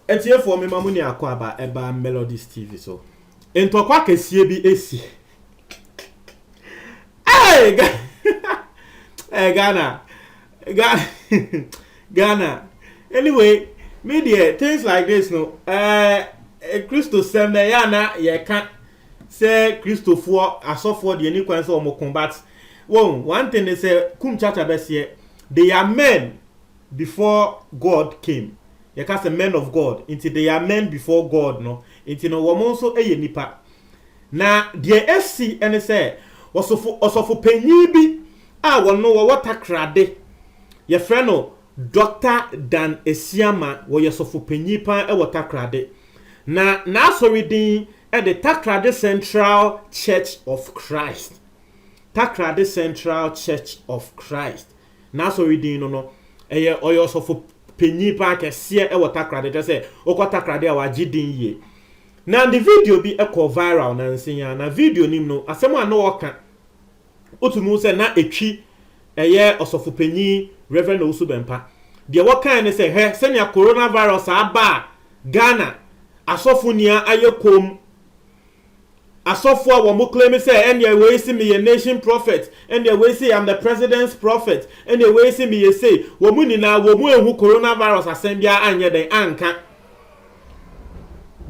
Atiefoɔ mema mo ne akwaaba ɛba Melodies TV so. Ntɔkwa kɛseɛ bi esi. Hey, Ga- hey, Ghana. Ga- Ghana. Anyway, me deɛ, things like this no, eh, eh, Christo sɛm na ɛyɛ a na yɛka Sɛ kristofoɔ asɔfoɔ deɛ ɛni kwan sɛ wɔn ko but wɔn one thing ne sɛ kum kyakya bɛseɛ they are men before God came yɛka sɛ men of God nti they are men before God no nti no wɔn nso yɛ nipa na deɛ ɛsi ɛne sɛ ɔsofo ɔsɔfo panyin bi a wɔn wɔwɔ takrade yɛfrɛ no Dr. Dan Asiama wɔyɛ sɔfo panyin paa ɛwɔ takrade na n'asɔre din de Takoradi Central Church of Christ, Takoradi Central Church of Christ, n'asɔre din no no, ɛyɛ ɔyɛ ɔsɔfo panyin paa kɛseɛ wɔ Takoradi, kyerɛ sɛ wokɔ Takoradi a wagye din yie. Na ne video bi kɔɔ viral nansa yi ara, na video no mu no, asɛm a na ɔka Wotumi hu sɛ na Atwi yɛ ɔsɔfo panyin, Rev. Owusu Bɛmpa. Deɛ wɔkae ne sɛ, Hwɛ sɛnea coronavirus a aba a Ghana asɔfo nni a ayɛ komm. Asɔfo a wɔn claim sɛ ɛnneɛ wei se meyɛ nation prophet, ɛnneɛ wei se I'm the president's prophet, ɛnneɛ wei se meyɛ sei, wɔn nyinaa wɔn anhu coronavirus asɛm biara anyɛ dɛn anka.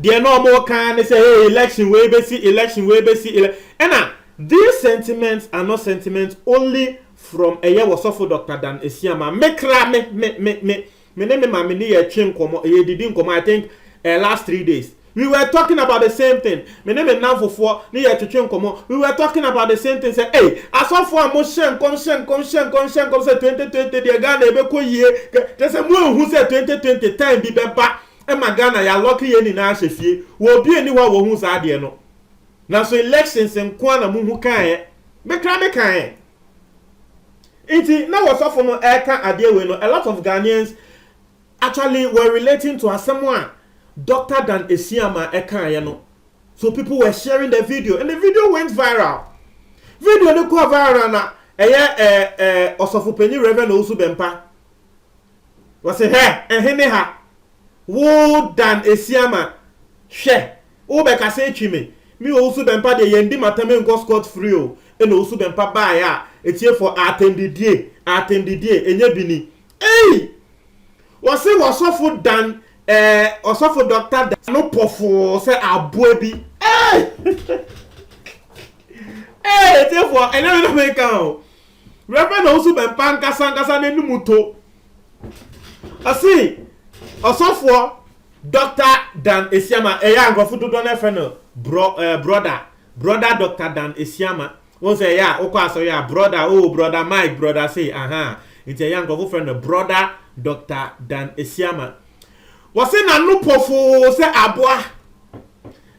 Deɛ na wɔn reka ara ne sɛ hey election wei bɛsi election wei bɛsi ele ɛna these sentiments are not sentiments only from ɛyɛ wɔsɔfo Doctor Dan Asiamah me kra me me me me me ne me maame ne yɛ twe nkɔmɔ yɛ didi nkɔmɔ I think uh, last three days we were talking about the same thing Me ne me nnamfofoɔ ne yɛ retwetwe nkɔmmɔ, we were talking about the same thing, sɛ ei, asɔfoɔ a mo hyɛ nkɔm hyɛ nkɔm hyɛ nkɔm hyɛ nkɔm sɛ twenty twenty deɛ Ghana ɛbɛkɔ yie kɛ, kyerɛ sɛ mo anhu sɛ twenty twenty time bi bɛba ɛma Ghana yɛ alɔke yɛn nyinaa ahyɛ fie, wɔ obi nni hɔ a wɔhuu saa adeɛ no, nanso elections nko ara na mo hu kaeɛ, me koraa me kaeɛ. Nti na wɔsɔfo no ɛreka adeɛ wei no a lot of Ghanaians Actually we're relating to asɛm a Doctor Dan Asiamah ɛkaeɛ no so people were sharing the video and the video went viral video no kɔɔ viral na ɛyɛ ɛɛ ɛɛ ɔsɔfopanyin Reverend Owusu Bɛmpa wɔsi hɛ ɛhe ne ha wo Dan Asiamah hwɛ wobɛkasa atwi me me Owusu Bɛmpa deɛ yɛn di matam nkɔ scot free o ɛna Owusu Bɛmpa baeɛ a etiefo atɛndidie atɛndidie ɛnyɛ bi ni Ei! Wɔse wɔsɔfo Dan eh ɔsɔfo Doctor Dan no pɔfoo sɛ aboa bi ei! Ei atiefoɔ ɛnyɛ me na meka o, Rev Owusu Bɛmpa ankasa ankasa n'anum to. Ɔse ɔsɔfoɔ Doctor Dan Asiamah, ɛyɛ a nkurɔfo dodoɔ no ara frɛ no brɔ eh brɔda, Brɔda Doctor Dan Asiamah, Wohu sɛ ɛyɛ a wokɔ asɔre a, brɔda, oh, brɔda Mike, brɔda sei, ahaa. Nti ɛyɛ a nkurɔfo frɛ no Brɔda Dɔkta Dan Asiamah. Wɔse n'ano pofoo sɛ aboa.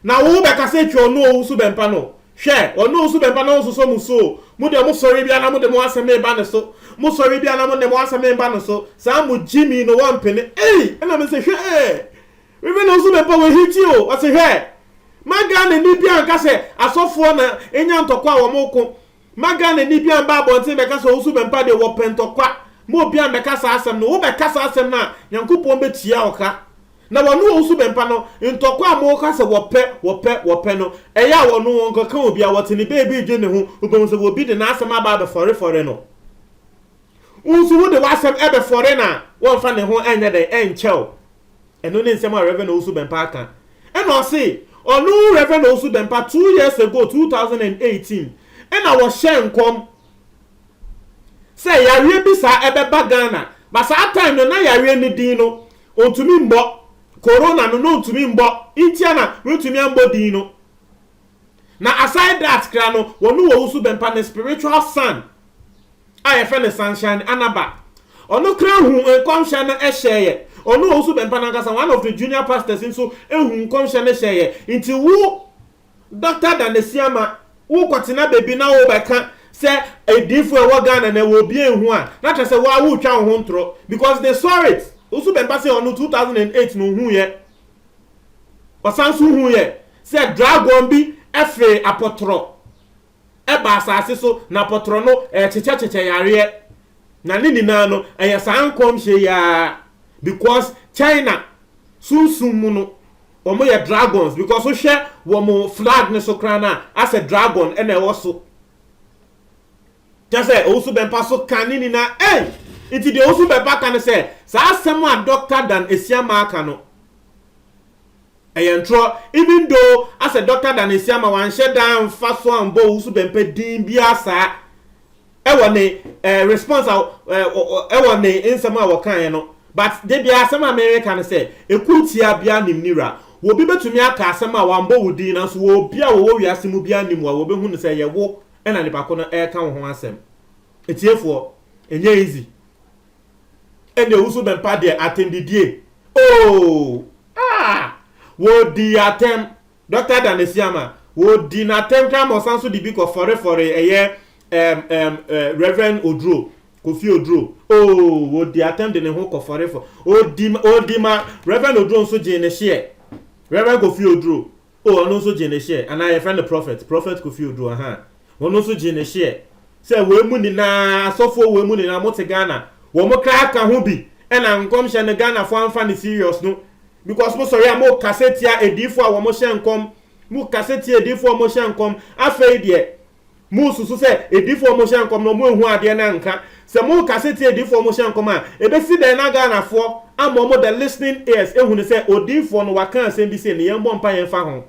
Na wo bɛka sɛ twa ɔno owu so bɛmpa no. Hwɛ, ɔno owu so bɛmpa no nsosɔ mo su o. Mo deɛ mo sɔre biara na mode mo asɛm reba ne so. Mo sɔre biara na mode mo asɛm reba no so. Saa mo Jimmy no wɔmpene. Ei, ɛna mese hwɛ ee. Even wo nso mepɛ wo hiti o, ɔse hwɛ, ma Ghana ni biaa nka sɛ asɔfoɔ na enya ntɔkwa a wɔn ko, ma Ghana ni biaa mba abɔnten bɛka sɛ ɔnsu bɛmpa deɛ wɔpɛ ntɔkwa, ma obiaa mbɛka saa asɛm no, wo bɛka saa asɛm no a Nyankopɔn bɛ tua wo ka, na wɔne ɔnsu bɛmpa no, ntɔkwa a mo ka sɛ wɔpɛ, wɔpɛ, wɔpɛ no, ɛyɛ a wɔno wɔn kɔka obiaa, wɔte ne baabi redwen ne ho, wo bɛhu sɛ obi de n'asɛm aba abɛ fɔre fɔre no, wo nso wo de w'asɛm ɛbɛ fɔre no a, wɔnfa ne ho ɛnyɛ dɛn, ɛnkyɛ wo. Ɛno ne nsɛm a Rev. Owusu Bɛmpa aka. Ɛna ɔse, ɔno Rev. Owusu Bɛmpa two years ago, two thousand and eighteen, ɛna wɔhyɛɛ nkɔm sɛ yareɛ bi saa ɛbɛba Ghana, but saa time no na yareɛ no din no ɔntumi mmɔ, Corona no na ɔntumi mmɔ, ntia na wɔntumi ammɔ din no. Na aside that koraa no, wɔne wɔn nso bɛmpa ne spiritual son a yɛfrɛ no Sunshine Anaba. Ɔno koraa huu nkɔmhyɛ no hyɛeɛ. Ɔne wɔn nso bɛmpa no ankasa, one of the junior pastors nso huu nkɔmhyɛ no hyɛeɛ. Nti wo Doctor Dan Asiama, wokɔtena baabi na wobɛka sɛ adiifoɔ a ɛwɔ Ghana no ɛwɔ obiara nhu a, na kyerɛ sɛ wo ara woretwa wo ho ntorɔ because they saw it. Wo nso bɛmpa sɛ ɔno two thousand and eight na ɔhuuiɛ. Ɔsan nso huiɛ sɛ dragon bi fee apɔtorɔ baa asase so, na apɔtorɔ no kyekyɛkyekyɛ yareɛ. Na ne nyinaa no, ɛyɛ saa nkɔmhyɛ yi ara because China sunsum mu no, wɔyɛ dragons because wohwɛ wɔn flag no so koraa no a, asɛ dragon na ɛwɔ so. Kyerɛ sɛ, owusu bɛmpa so ka ne nina ei! Nti deɛ owusu bɛmpa ka ne sɛ, saa asɛm a Dɔkta Dan Asiamah aka no, ɛyɛ ntorɔ, even though asɛ Dɔkta Dan Asiamah wanhyɛ da amfa so ambɔ owusu bɛmpa din biara saa ɛwɔ ne eh, response a eh, ɛwɔ ne nsɛm a wɔkaeɛ no. But de biara asɛm a mereka ne sɛ, ɛkuo tia biara nim ne wura. Obi bɛtumi aka asɛm a wambɔ wo din nanso obi a wɔwɔ wiase mu biara nim wo a wɔbɛhu no sɛ ɛyɛ wo ɛna nipa ko no ɛɛka wo ho asɛm ɛtiefoɔ ɛnyɛ easy ɛndeɛ wo so bɛmpa deɛ atɛmdidie ooh aah wɔ di atɛm Doctor Dan Asiamah wɔ di na atɛm kra ma ɔsan so de bi kɔ fɔre fɔre ɛyɛ ɛm ɛm Reverend Oduro Kofi Oduro ooh wɔ di atɛm de ne ho kɔ fɔre fɔ ɔdi ɔdi ma Reverend Oduro nso gyee ne hyeɛ Reverend Kofi Oduro Oh ɔno nso gyee ne share anaa yɛfrɛ no prophet prophet Kofi Oduro ahaa ɔno nso gyee ne share sɛ wei mu nyinaa asɔfoɔ wei mu nyinaa mote Ghana wɔn kra ka ho bi ɛna nkɔmhyɛ no Ghanafoɔ amfa no serious no because mo sɔre a mo kasa tia adiifoɔ a wɔn hyɛ nkɔm mo kasa tia adiifoɔ a wɔn hyɛ nkɔm afei deɛ Mosusu sɛ adifoɔ ɔmo hyɛ nkɔm no ɔmo anhu adeɛ no anka? Sɛ mo kase tie adifoɔ ɔmo hyɛ nkɔm a ɛbɛsi dɛn na Ghanafoɔ ama ɔmo the listening ears ahunu sɛ odiifoɔ no waka asɛm bi sei na yɛn bɔ mpaeɛ mfa ho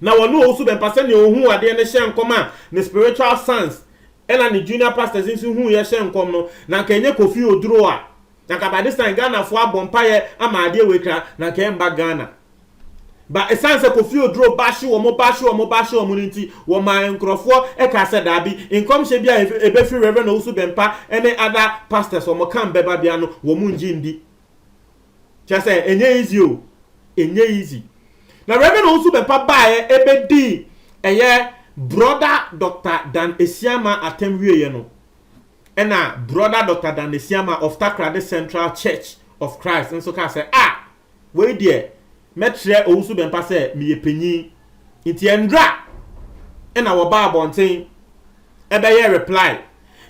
na wɔne ɔwusu bɛmpa sɛdeɛ ɔhuu adeɛ no hyɛ nkɔm a ne spiritual sons ɛna ne junior pastors nso huuiɛ hyɛ nkɔm no na anka ɛnyɛ Kofi Oduro a na anka by this time Ghanafoɔ abɔ mpaeɛ ama adeɛ wei kra na anka ɛmba Ghana. Ba ɛsiane sɛ Kofi Oduro ba hye wɔn, ba hye wɔn, ba hye wɔn no nti, wɔmaa nkurɔfoɔ kaa sɛ daabi, nkɔmhyɛ bi a ɛbɛfiri Rev. Owusu Bɛmpa ne other pastors wɔn camp bɛba biara no, wɔn nnye nndi. Kyerɛ sɛ, ɛnyɛ easy o, ɛnyɛ easy. Na Rev. Owusu Bɛmpa baeɛ bɛdii ɛyɛ Brɔda Dɔkta Dan Asiamah atɛm wieeɛ no, ɛna Brɔda Dɔkta Dan Asiamah of Takoradi Central Church of Christ nso kaa sɛ, ah! Wei deɛ mɛkyerɛ Owusu Bɛmpa sɛ meyɛ panyin nti ɛndra na wɔbaa abɔnten ɛbɛyɛɛ reply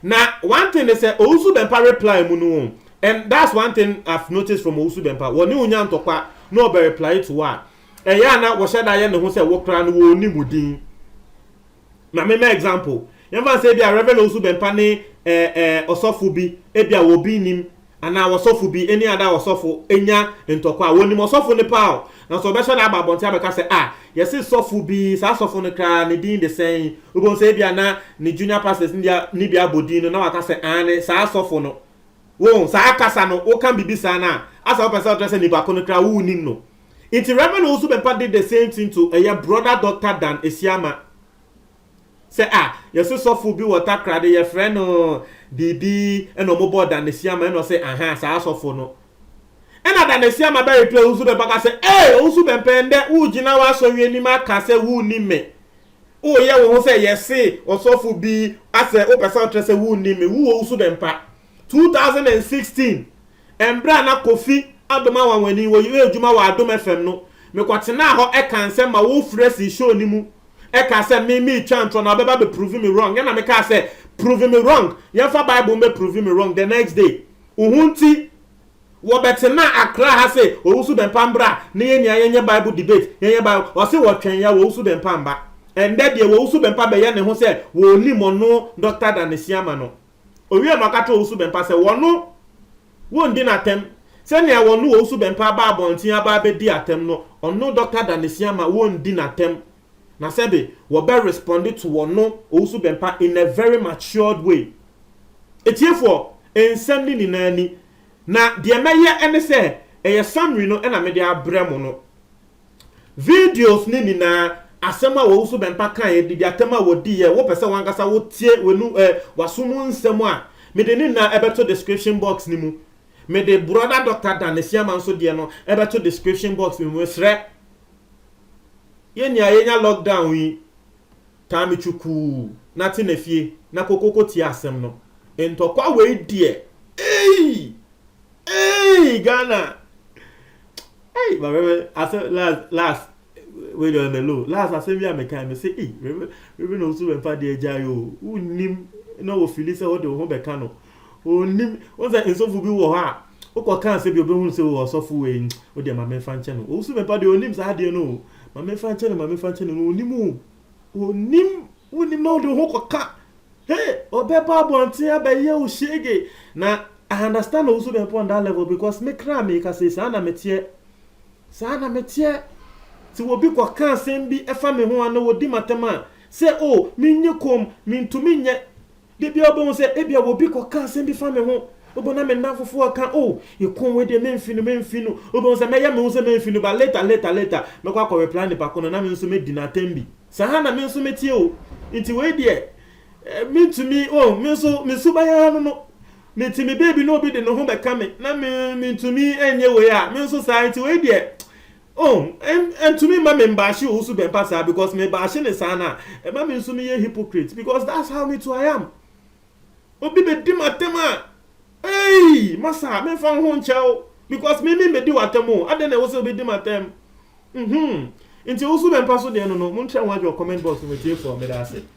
na one thing ne sɛ Owusu Bɛmpa reply mu no and that's one thing I've noticed from Owusu Bɛmpa wɔne wo nya ntɔkwa na ɔbɛ reply to wo a ɛyɛ a na wɔhyɛ da yɛ ne ho sɛ wo koraa no wɔnnim wo din. Ma me mma example, yɛmfa no sɛ ebia Rev. Owusu Bɛmpa ne eh eh ɔsɔfo bi, ebia wɔ obi nnim, anaa ɔsɔfo bi, any other ɔsɔfo, nya ntɔkwa a, wɔnim ɔsɔfo no paa o, nanso ɔbɛhwɛ na aba abɔnten abɛka sɛ, ah, yɛse sɔfo bi, saa sɔfo no koraa ne din de sɛn? Wobɛhu sɛ ebia na ne junior pastors no bi, no bi abɔ din no, na waka sɛ, aane, saa sɔfo no. Wohu, saa kasa no, woka biribi saa no a, asa wopɛ sɛ wokyerɛ sɛ nnipa ko no koraa wonnim no. Nti Rev Owusu Bempah did the same thing to ɛyɛ Brother Doctor Dan Asiamah. Sɛ ah yɛse sɔfo bi wɔ Takoradi yɛfrɛ no biribi ɛna ɔmo bɔɔ Dan Asiamah ɛna ɔse ahaa saa sɔfo no. Ɛna Dan Asiamah bɛ reply Owusu Bempah ka sɛ ee Owusu Bempah ɛndɛ wo gyina w'asɔre anim aka sɛ wo nnim me. Wo yɛ wo ho sɛ yɛse ɔsɔfo bi asɛ wo pɛ sɛ wo kyerɛ sɛ wo nnim me. Wo Owusu Bempah Two thousand and sixteen, mberɛ a na Kofi Adom Anwanwani wɔ yɛ edwuma wɔ Adom FM no, me kɔ tsenaa hɔ ɛkaa nsɛm ma wo frɛ sii show no mu ɛkaa sɛ me mee twa ntorɔ na ɔbɛ ba bɛ prove me wrong ɛna me kaa sɛ prove me wrong yɛn fa bible mbɛ prove me wrong the next day wo ho nti wɔ bɛ tsenaa Accra ha se Owusu Bɛmpa mbra na yɛ nyinaa yɛ nyɛ bible debate yɛ nyɛ bible ɔse wɔ twɛn ya wɔ Owusu Bɛmpa mba ɛndɛ deɛ wɔ Owusu Bɛmpa bɛ yɛ ne ho sɛ wɔ onim ɔno Doctor Danesiama no. Owiee no, ɔka kyerɛɛ Owusu-Bempah sɛ wɔno wondi no atɛm sɛnea wɔno Owusu-Bempah baa abɔnten aba abedi atɛm no, ɔno Dɔkta Danesiama wondi no atɛm na sɛbe wɔbɛ respond to wɔno Owusu-Bempah in a very matured way. Atiefoɔ, nsɛm no nyinaa ni, na deɛ mɛyɛ ne sɛ ɛyɛ summary no na mede abrɛ mo no. Videos no nyinaa, asɛm a w'awufo bɛmpa kaeɛ, didiatɛm a wɔdiiɛ, wopɛ sɛ w'ankasa wo tie w'anu ɛ, w'aso mu nsɛm a, mede ne nyinaa ɛbɛto description box no mu. Mede Brɔda Dɔkta Dan Asiamah nso deɛ no ɛbɛto description box no mu. Mesrɛ. Yɛ nia yɛnya lockdown yi, taa me twukuu na te na fie na kokoko tie asɛm no. Ntɔkwa wei deɛ, eii! Eii! Ghana! Ei ma Rev asɛ las las wei deɛ ɔlɛ low las asɛm bi a mekae me se ei Rev Rev na osu bɛmfa deɛ gyae o wonnim na ofili sɛ wode wo ho bɛka no onnim wo sɛ nsɔfo bi wɔ hɔ a wokɔ kaa sɛ bi obɛhunu sɛ o ɔsɔfo wei wo deɛ ma memfa nkyɛ no osu bɛmfa deɛ onnim saa adeɛ no o ma memfa nkyɛ no ma memfa nkyɛ no no onnim o Ɔnnim wonnim na wode wo ho kɔka hey ɔbɛba abɔnten abɛyɛ wo shege na I understand wo so bɛpɔ on that level because me kra me ka sei saa na meteɛ saa na meteɛ ti wɔbi kɔka asɛm bi ɛfa me ho a na wɔdi matam a sɛ o oh, menye kom mentumi nyɛ Da biara wobɛhu sɛ ebia obi kɔka asɛm bi fa me ho, wobɛhu na me nnamfofoɔ reka, oh, Ekong wei deɛ memfi no, memfi no, wobɛhu sɛ mɛyɛ me ho sɛ memfi no, but later, later, later, mɛkɔ akɔ reply nipa ko no, na me nso mɛdi no atɛm bi. Saa ara na me nso meteɛ o, nti wei deɛ, eh, mentumi, oh, me nso, me suban ara no no, mete me baabi na obi de ne ho bɛka me, na me, mentumi nyɛ wei a, me nso saa, nti wei deɛ, Oh ɛn ɛntumi mma me mbaahye owu so bɛmpa saa because me baahye ne saa no a ɛma me nso me yɛ hypocrite because that's how me too I am obi bɛ di m'atɛm a eii masa me nfa woho nkyɛ wo because me me bɛ di w'atɛm o adɛn na ɛwɔ sɛ obi di m'atɛm mhm nti owu so bɛmpa so deɛ no no mo ntwɛ ho adwene wɔ comment box no mu atiefo a meda ase.